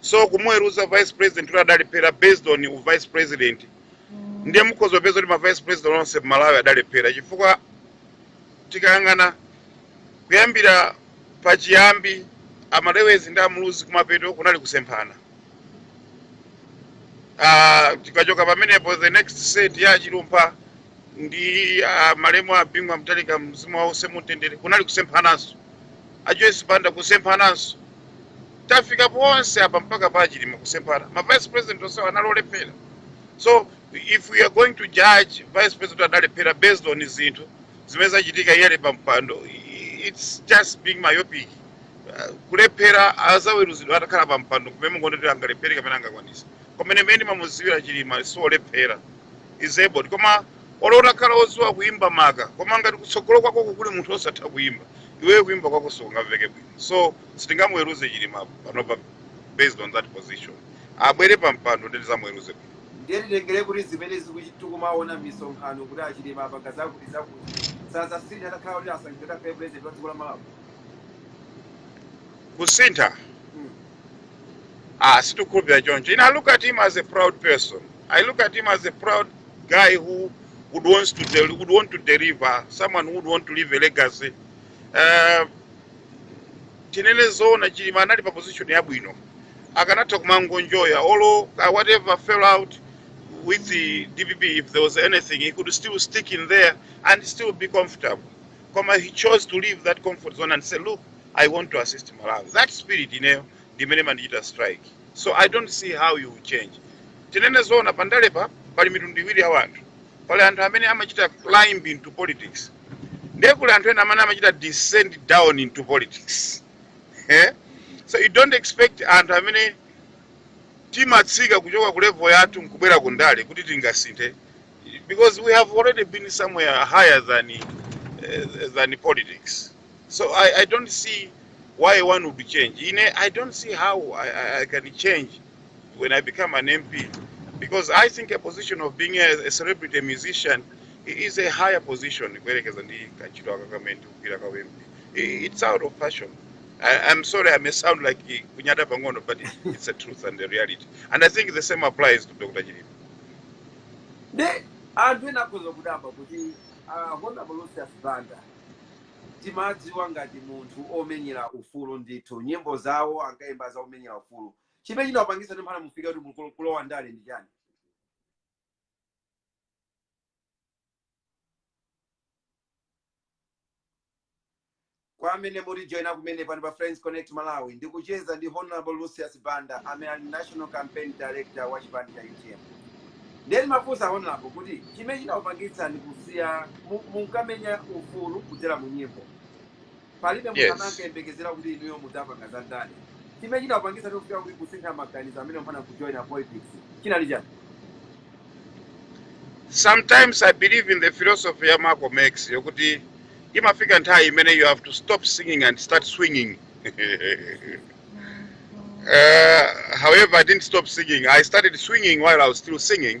so kumuweruza vice president kuti adalephera based on u vice president ndiye mukhoza kupeza kuti ma vice president onse mmalawi adalephera chifukwa tikayang'ana kuyambira pachiyambi amalewezi ndi amuluzi kumapeto kunali kusemphana Ah, tikachoka pamenepo the next set ya achilumpha ndi ah, malemu a bingu wa mutharika mzimu wawo uwuse mumtendere kunali kusemphananso ajoyce banda kusemphananso tafika ponse apa mpaka pa chilima kusemphana ma vice president onsewo anali olephera so if we are going to judge vice president adalephera based on zinthu zimene zachitika iye ali pa mpando i- it's just being myopic Uh, kulephera azaweruzidwa atakhala pa mpando kumene mungondotera angalephere kapena angakwanisa koma ine mmene ndimamuziwira chilima siolephera he's able koma olo utakhala oziwa kuimba maka koma ngati kutsogolo kwako kuli munthu osatha kuimba iweyo kuimba kwako sikungamveke bwino so sitingamuweruze chilima panopa based on that position abwere pa mpando nde tizamuweruze bwino ndiye titengere kuti zimene zikuchi- tikumaona m'misonkhano kuti achilima apanga zakuti zakuti sazasintha atakhala kuti asankhidwe akhale president wa dziko la malawi kusintha Mm. ah sitikhulupira choncho ine i look at him as a proud person i look at him as a proud guy who would wants to del- would want to deliver someone who would want to leave a legacy uh, tinene zoona chilima anali pa position yabwino akanatha kumangonjoya olo uh, whatever fell out with the dpp if there was anything he could still stick in there and still be comfortable koma he chose to leave that comfort zone and say look i want to assist malawi that spirit ineyo ndimene imandichita strike so i don't see how you will change tinene zoona pandalepa pali mitundu iwiri ya wanthu pali anthu amene amachita climb into politics ndiye kuli anthu ena amene amachita descend down into politics eh? so you don't expect anthu amene timatsika kuchoka ku level yathu nkubwera ku ndale kuti tingasinthe because we have already been somewhere higher than, uh, than politics so I, i don't see why one would change ine i don't see how i, I, I can change when I become an MP because I think a position of being a, a celebrity a musician is a higher position kuyerekeza ndi kantchito aka kamene ndikugwira ka MP. It's out of passion. I, I'm sorry I may sound like kunyada pang'ono but it's a truth and a reality. And I think the same applies to Dr. Chilima. De anthu ena akhoza kudabwa kuti uh, Honorable Lucius Banda timadziwa ngati munthu omenyera ufulu ndithu nyimbo zawo ankayimba za omenyera ufulu chimene chinakupangitsani mpaka mufika kuti mukulo- kulowa ndale ndi chani kwa amene mukutijoina kumene pano pa friends connect malawi ndikucheza ndi honorable lucius banda amene ali national campaign director wa chipani cha utm nde ndimafunsa honorable kuti chimene chinakupangitsani kusiya mu- munkamenyera ufulu kudzera mu nyimbo palibe munthu amene Yes. ankayembekezera kuti inuyo mudzapanga za ndale chimene chinakupangitsani kufika kuti kusintha maganizo amene mpaka kujoina politics chinali chani sometimes i believe in the philosophy ya malcolm x yokuti imafika nthawi imene you have to stop singing and start swinging uh, however i didn't stop singing i started swinging while i was still singing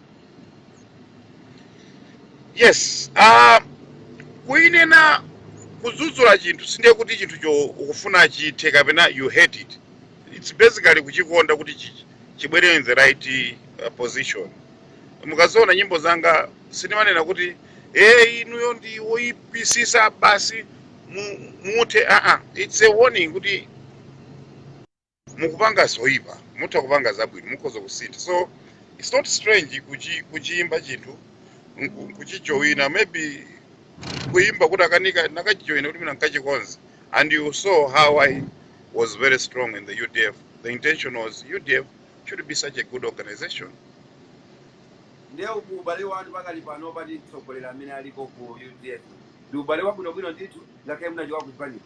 yes uh, kuinena kudzudzula chinthu sindiye kuti chinthucho ukufuna chithe kapena you hate it it's basically kuchikonda kuti chi- chibwere in the right uh, position mukaziona nyimbo zanga sindimanena kuti e inuyo ndi woyipitsitsa basi mu- muthe aa it's a warning kuti mukupanga zoipa mutha kupanga zabwino mukhoza kusintha so its not strange kuchi, kuchiimba chinthu nku- kuchijowina maybe kuimba kutakanika ndakachijoyina kuti mwina nkachikonze and you saw how i was very strong in the udf the intention was udf should be such a good organization ndiye uku ubale wanu pakali pano ndi atsogoleri amene aliko ku udf ndi ubale wabwinobwino ndithu ngakhale munachoka kuganiza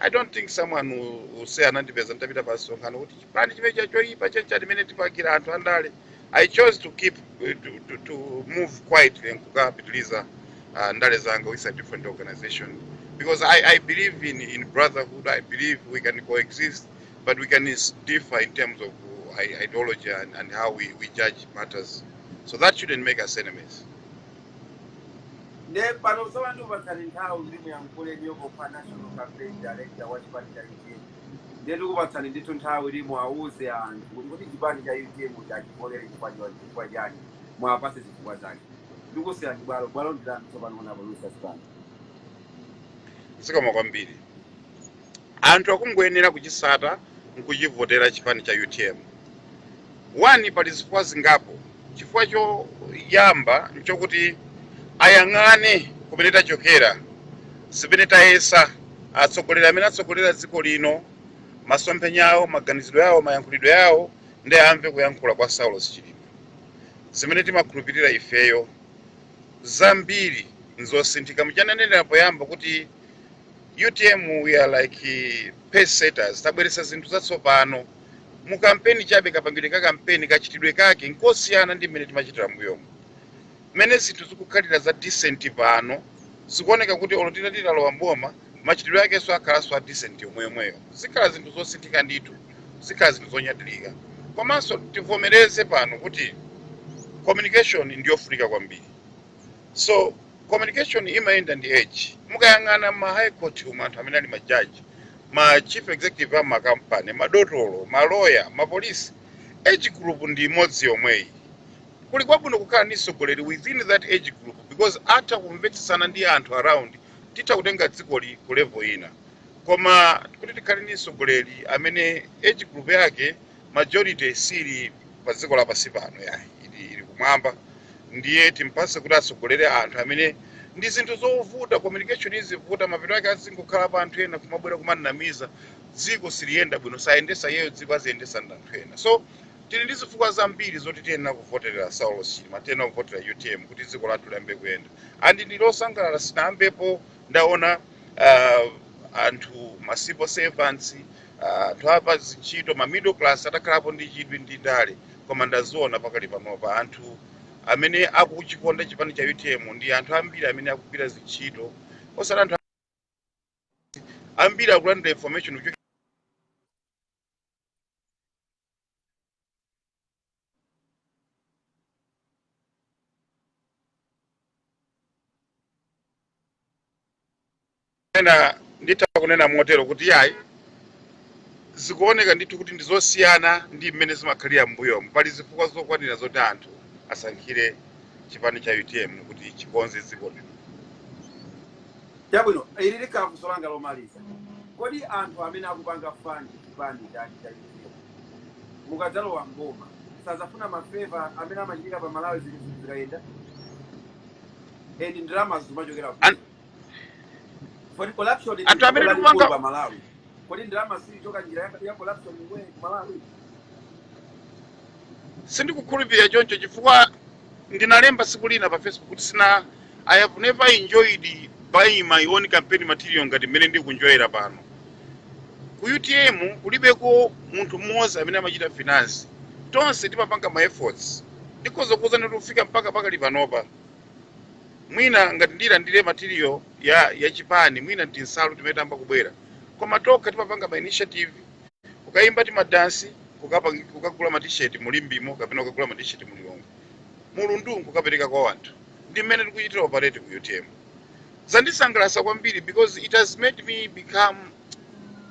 i don't think someone will, will say anandipeza nditapita pa msonkhano kuti chipani chimene cha choyipa chencha limene tipakira anthu andale i chose to keep eh, to, to, to move quietly nkukapitiliza uh, ndale zanga with a different organization because i, I believe in, in brotherhood i believe we can coexist but we can is- differ in terms of uh, i- ideology and, and how we, we judge matters so that shouldn't make us enemies Nde pano tsono ndikupatsani nthawi kuti muyankhule inuyo pokhala National Campaign Director wa chipani cha utm nde ndikupatsani ndithu nthawi kuti muwauze anthu kuti kodi chipani cha utm uja achivotere chifukwa chon- chifukwa chani muwapatse zifukwa zake ndikusiyirani bwalo bwalo ndi lanu tsopano honorable Lucius Banda. zikomo kwambiri Anthu akungoyenera kuchitsata nkuchivotera chipani cha utm. One pali zifukwa zingapo. Chifukwa choyamba nchokuti ayang'ane kumene tachokera, zimene tayesa, atsogoleri amene atsogolera dziko lino, masomphenya awo, maganizidwe awo, mayankhulidwe awo ndiye amve kuyankhula kwa Saulos Chilima. Zimene timakhulupirira ifeyo zambiri nzosinthika. Muja ndanenera poyamba kuti. utm we are like pace setters tabweretsa zinthu zatsopano mu kampeni chabe kapangidwe ka kampeni kachitidwe kake nkosiyana ndi mmene timachitira mbuyomu mmene zinthu zikukhalira za decent pano zikuoneka kuti olo tita titalowa mboma machitidwe akenso akhalanso a decent yomweyomweyo zikhala zinthu zosinthika ndithu zikhala zinthu zonyadirika komanso tivomereze pano kuti communication ndiyofunika kwambiri so communication imayenda ndi age mukayang'ana ma high court umu anthu amene ali ma judge ma chief executive a makampani madotolo maloya mapolisi age group ndi imodzi yomweyi kuli kwabwino kukhala ndi mtsogoleri within that age group because atha kumvetsesana ndi anthu around titha kutenga dzikoli ku level ina koma kuti tikhale ndi mtsogoleri amene age group yake majority sili pa dziko lapansi pano yayi ili kumwamba ndiye timpase kuti atsogolere anthu amene ndi zinthu zovuta communication izivuta mapeto ake azingokhala pa anthu ena kumabwera kumamunamiza dziko siliyenda bwino sayendetsa iyeyo dziko aziyendetsa ndi anthu ena so tili ndi zifukwa zambiri zoti tiyenera kuvoterera saulos chilima tiyenera kuvotera utm kuti dziko lathu liyambe kuyenda andi ndili osangalala sindinayambepo ndaona uh, anthu ma civil servants anthu a pazintchito ma middle class atakhalapo ndi chidwi ndi ndale koma ndaziona pakali panopa anthu amene akuchikonda chipani cha utm ndi anthu ambiri amene akugwira zintchito osati anthu ambiri akulandira information kuchokera ena nditha kunena motero kuti yayi zikuoneka ndithu kuti ndi zosiyana ndi mmene zimakhalira m'mbuyomu pali zifukwa zokwanira zoti anthu asankhire chipani cha utm kuti chikonze dziko lino Chabwino, ili likhala funso langa lomaliza. Kodi anthu amene akupanga fund chipani cha UTM mukadzalowa m'boma sadzafuna ma favour amene amachitika pa malawi zinthu zikayenda and ndalama zimachokera kuti kodi corruption ndi anthu vuto amene lalikulu tikupanga pa malawi kodi ndalama siichoka njira ya- ya corruption iwe ku malawi sindikukhulupirira choncho chifukwa Ndinalemba tsiku lina pa Facebook kuti sina I have never enjoyed buying my own campaign material ngati mmene ndikuenjoyera pano. Ku UTM kulibeko munthu mmodzi amene amachita finance. Tonse timapanga ma efforts. Ndikhoza kukuuzani kuti kufika mpaka pakali panopa. Mwina ngati ndinalandira material ya chipani, mwina tinsalu timene tayamba kubwera. Koma tokha timapanga ma initiative kukayimba timadansi kukapang- kukagula matisheti mu limbemo kapena kukagula matisheti mu lilongwe mulundu nkukapereka kwa wanthu ndi mmene tikuchitira operate ku utm zandisangalasa kwambiri because it has made me become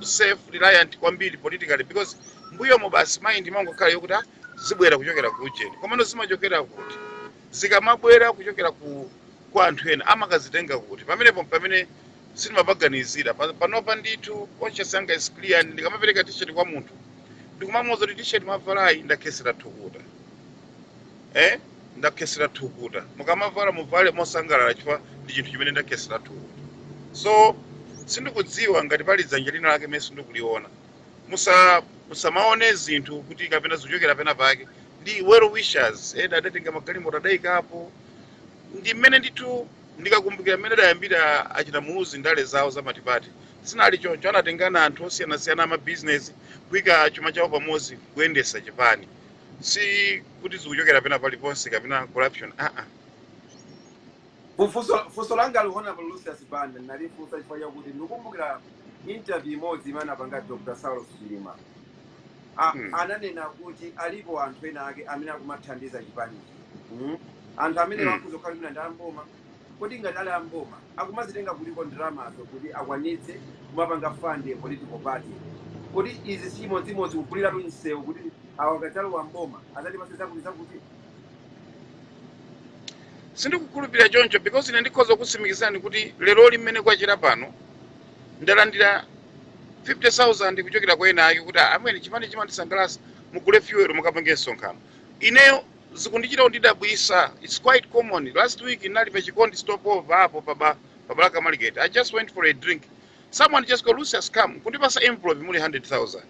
self reliant kwambiri politically because mbuyomo basi mind imangokhala yokuti "Ah, zibwera kuchokera ku ujeni komano zimachokera kuti zikamabwera kuchokera ku kwa anthu ena amakazitenga kuti pamenepo pamene sindimapaganizira Pa- panopa ndithu conscious yanga is clear and ndikamapereka t-shirt kwa munthu ndikumamuuza kuti t-shirt mwavalayi ndakhesera thukuta eh ndakhesera thukuta mukamavala muvale mosangalala chifukwa ndi chinthu chimene ndakhesera thukuta so sindikudziwa ngati pali dzanja lina lake mene sindikuliona musa musamaone zinthu kuti kapena zikuchokera pena pake ndi well wishers ena adatenga magalimoto adaikapo ndi mmene ndithu Ndikakumbukira mmene adayambira achina Muluzi ndale zawo za multiparty, zinali choncho. Anatengana anthu osiyanasiyana a mabizinezi, kuika chuma chawo pamodzi kuyendetsa chipani. Si kuti zikuchokera pena paliponse kapena corruption aa. Funso funso langali Hon Lucius Banda ndinalifunsa chifukwa chakuti ndikukumbukira interview imodzi imene anapanga Dr Saulos Chilima. a, Hmm. ananena kuti alipo anthu ena ake amene akumathandiza chipanichi mm? anthu amene Hmm. akhoza kukhala mwina ndi amboma kodi ngati ali amboma akumazitenga kutiko ndalamazo kuti akwanitse kumapanga fund a political party kodi izi si chimodzimodzi kuguliratu msewu kuti awa akadzalowa mboma adzatipase zakuti zakuti sindikukhulupirira choncho because ine ndikhoza kutsimikizani kuti leroli mmene kwachera pano ndalandira 50,000 kuchokera kwa ena ake kuti amene chipani chimandisangalatsa mugule fuel mukapange msonkhano ineyo zikundichita kundidabwisa it's quite common last week ndinali pa chikondi stopover apo pa ba- pa balaka market i just went for a drink someone just called lucius come kundipasa envelope muli 100,000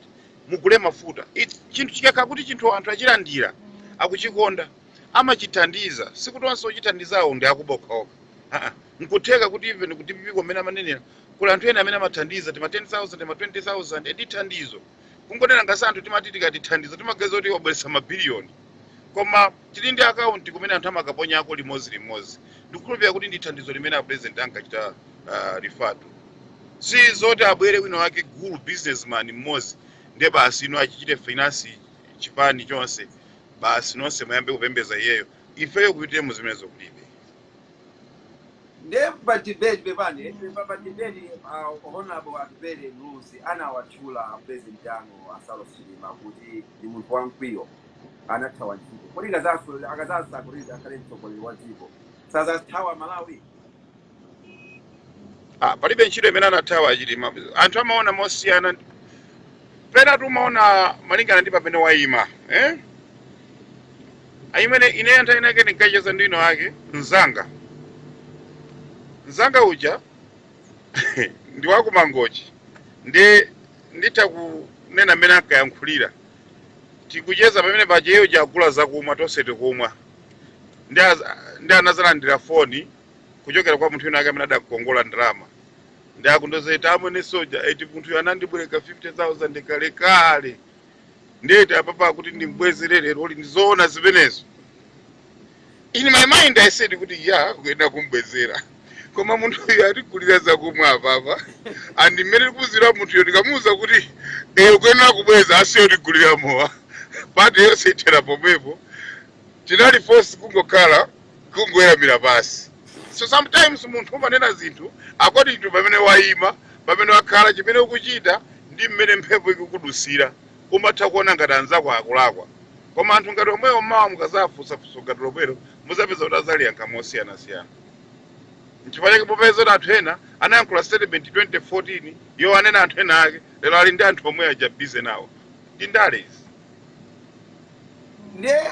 mugule mafuta It- chinthu chikakhala kuti chinthu anthu achilandira akuchikonda amachithandiza sikuti onse ochithandizawo ndi akuba okhaokha aa mkutheka kuti even ku dppko mmene amanenera kuli anthu ena amene amathandiza tima 10000 tima 20000 ndi thandizo kungonena ngati anthu timati tikati thandizo timaganiza kuti wabweretsa mabiliyoni koma tili ndi akaunti kumene anthu amakaponyako limodzi limodzi ndikukhulupirira kuti ndi thandizo limene a president ankachita uh, refer tu si zoti abwere wina wake gulu businessman mmodzi ndiye basi ino achichite finance chipani chonse basi nonse muyambe kupembeza iyeyo ifeyo ku utm zimenezo kulibe nde pa debate pepani pa, pa debate uh, honorable atupele muluzi anawatchula president anu a saulos chilima kuti ndi munthu wamkwiyo anathawa ntchito kodi akazaso- akazasankhidwa kuti akhale mtsogoleri wa dziko sazathawa malawi Ah, palibe ntchito imene anathawa chilima anthu amaona mosiyana pena tumaona malingana ndi pamene wayima eh? I mean ine nthawi inake ndinkacheza ndi wina wake mzanga mzanga uja ndi wakumangochi ndi nditha kunena mmene ankayankhulira tikucheza pamene paja iye wagula zakumwa tonse tikumwa ndi az- ndi anazalandira foni kuchokera kwa munthu wina wake amene adakongola ndalama ndi akundiuza eti amwene Soldier eti munthuyo anandibwereka 50000 kale kale ndiye eti apapa akuti ndimbwezere lero uli ndizoona zimenezo in my mind i said kuti ya ukuyenera kumbwezera koma munthuyo atigulira zakumwa apapa and mmene ndikudziwira munthuyo ndikamuwuza kuti e ukuyenera kubweza asiya kutigulira mowa party yonse ithera pomwepo tinali forced kungokhala kungoweramira pansi. So sometimes munthu umanena zinthu according to pamene waima, pamene wakhala, chimene ukuchita ndi mmene mphepo ikukudutsira. Umatha kuona ngati anzako akulakwa. Koma anthu ngati omwewo mawa mukadzawafunsa funso ngati lomwelo mudzapeza kuti adzaliyankha mosiyanasiyana. Nchifukwa chake mupeza kuti anthu ena anayankhula statement 2014 yowanena anthu ena ake, lero ali ndi anthu omwe aja busy nawo. Ndi ndale izi. Ndiye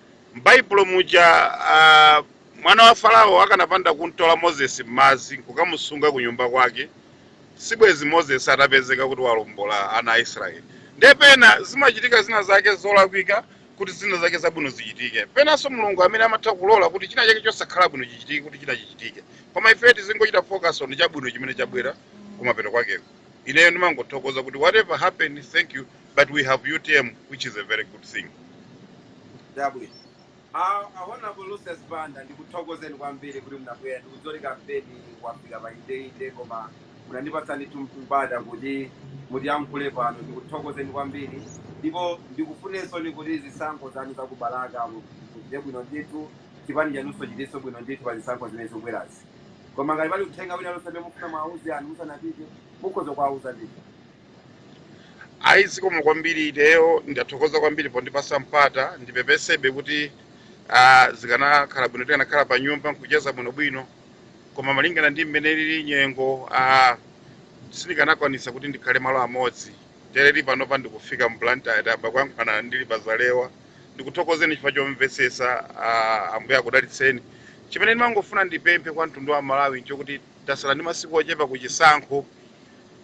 M'Baibulo muja, a, mwana wa Farao akanapanda kum'tola Moses m'madzi n'kukamusunga kunyumba kwake, sibwenzi Moses atapezeka kuti wawombola ana a Israeli. Ndiye pena zimachitika zina zake zolakwika kuti zina zake zabwino zichitike. Penanso Mulungu amene amatha kulola kuti china chake chosakhala bwino chichitike kuti china chichitike. Koma ifeyo tizingochita focus on chabwino chimene chabwera kumapeto kwakeko. Ineyo ndimangothokoza kuti whatever happen, thank you but we have utm which is a very good thing chabwino Honourable Lucius Banda ndikuthokozeni kwambiri kuti munabwera ndikudziwa kuti kampeni wafika pa indeinde koma munandipatsa ndithu mpata kuti mutiyankhule pano ndikuthokozeni kwambiri ndipo ndikufunireninso kuti zisankho zanu za ku Balaka muchite bwino ndithu chipani chanunso chichitenso bwino ndithu pa zisankho zimene zikubwerazi koma ngati pali uthenga wina lonse amene mufuna muwauze anthu musanapite mukhoza kuwauza ndithu ayi zikomo kwambiri ineyo ndathokoza kwambiri pondipatsa mpata ndipepesebe kuti ah, zikanakhala bwino tikanakhala pa nyumba nkucheza bwinobwino koma malingana ndi mmene ilili nyengo ah, sindikanakwanisa kuti ndikhale malo amodzi tereli panopa ndikufika mblantyre apa tikuyankhulana ndili pa Zalewa ndikuthokozeni chifukwa chomvetsetsa ah, ambuye akudalitseni chimene ndimangofuna ndipemphe kwa mtundu wa malawi nchokuti Tatsala ndi masiku ochepa ku chisankho,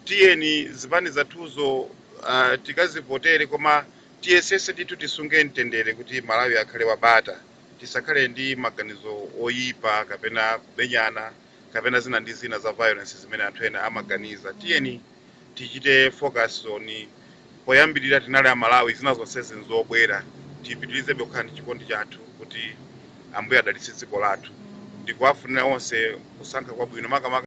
tiyeni zipani zathuzo tikazivotere koma tiyesetse ndithu tisunge mtendere kuti Malawi akhale wa bata, tisakhale ndi maganizo oyipa kapena kumenyana kapena zina ndi zina za violence zimene anthu ena amaganiza. Tiyeni. tichite focus on poyambirira tinali amalawi zina zonsezi n'zobwera tipitirizebe kukhala ndi chikondi chathu kuti ambuye adalitse dziko lathu ndikuwafunira onse kusankha kwabwino makamaka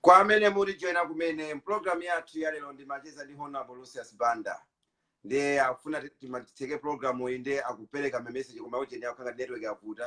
kwa amene mutijoina kumene pulogalamu yathu ya lero ndi macheza ndi honorable lucius banda ndiye akufuna timati titseke pulogalamu iyi ndiye akupereka message koma ujeni ikukhala ngati network yavuta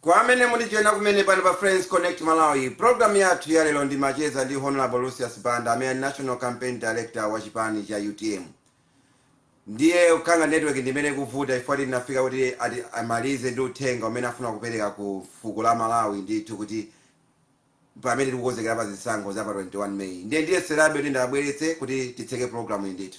kwa amene mutijoyina kumene pano pa friends connect malawi programu yathu ya lero ndimacheza ndi honorable lucius banda amene ndi a national campaign director wa chipani cha utm Ndiye ikukhala ngati network ndi imene ikuvuta chifukwa tinafika kuti amalize ndi uthenga umene afuna kupereka ku fuko la Malawi ndithu kuti pamene tikukonzekera pa zisankho za pa 21 May. Ndiye ndiyeserabe kuti ndiwabweretse kuti titseke program iyi ndithu.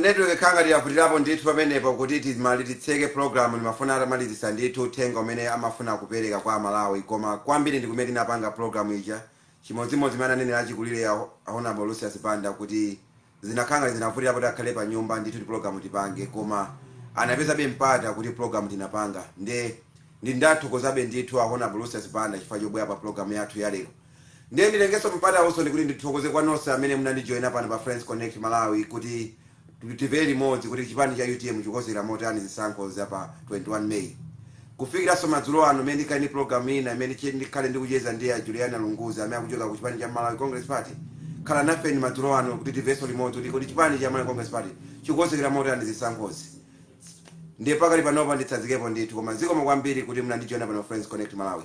Network ikukhala ngati yavutilapo ndithu pamenepo kuti timali- titseke program ndimafuna atamalizisa ndithu uthenga umene amafuna kupeleka kwa amalawi koma kwambiri ndikumene tinapanga program ija chimodzimodzi mmene ananenela achikulile a Hon Lucius Banda kuti zinakhala ngati zinavutilapo kuti akhale panyumba ndithu kuti program tipange koma anapezabe mpata kuti program tinapanga nde ndi ndathokozabe ndithu a Hon Lucius Banda chifukwa chobwela pa program yathu yalero Ndiye nditengenso mpatawunso kuti ndithokoze kwa nonse amene munandijoina pano pa Friends Connect Malawi kuti tivere limodzi kuti chipani cha utm chikukonzekera motani zisankho za pa 21 May. Kufikiranso madzulo ano pamene ndikhale ndi program ina imene che- ndikhale ndikucheza ndi a Juliana Lunguzi amene akuchoka ku chipani cha Malawi Congress Party. Khalani nafe madzulo ano kuti tivenso limodzi kuti kuti chipani cha Malawi Congress Party chikukonzekera motani zisankhozi. Ndiye pakali panopa nditsazikepo ndithu koma zikomo kwambiri kuti munandijoina pano Friends Connect Malawi.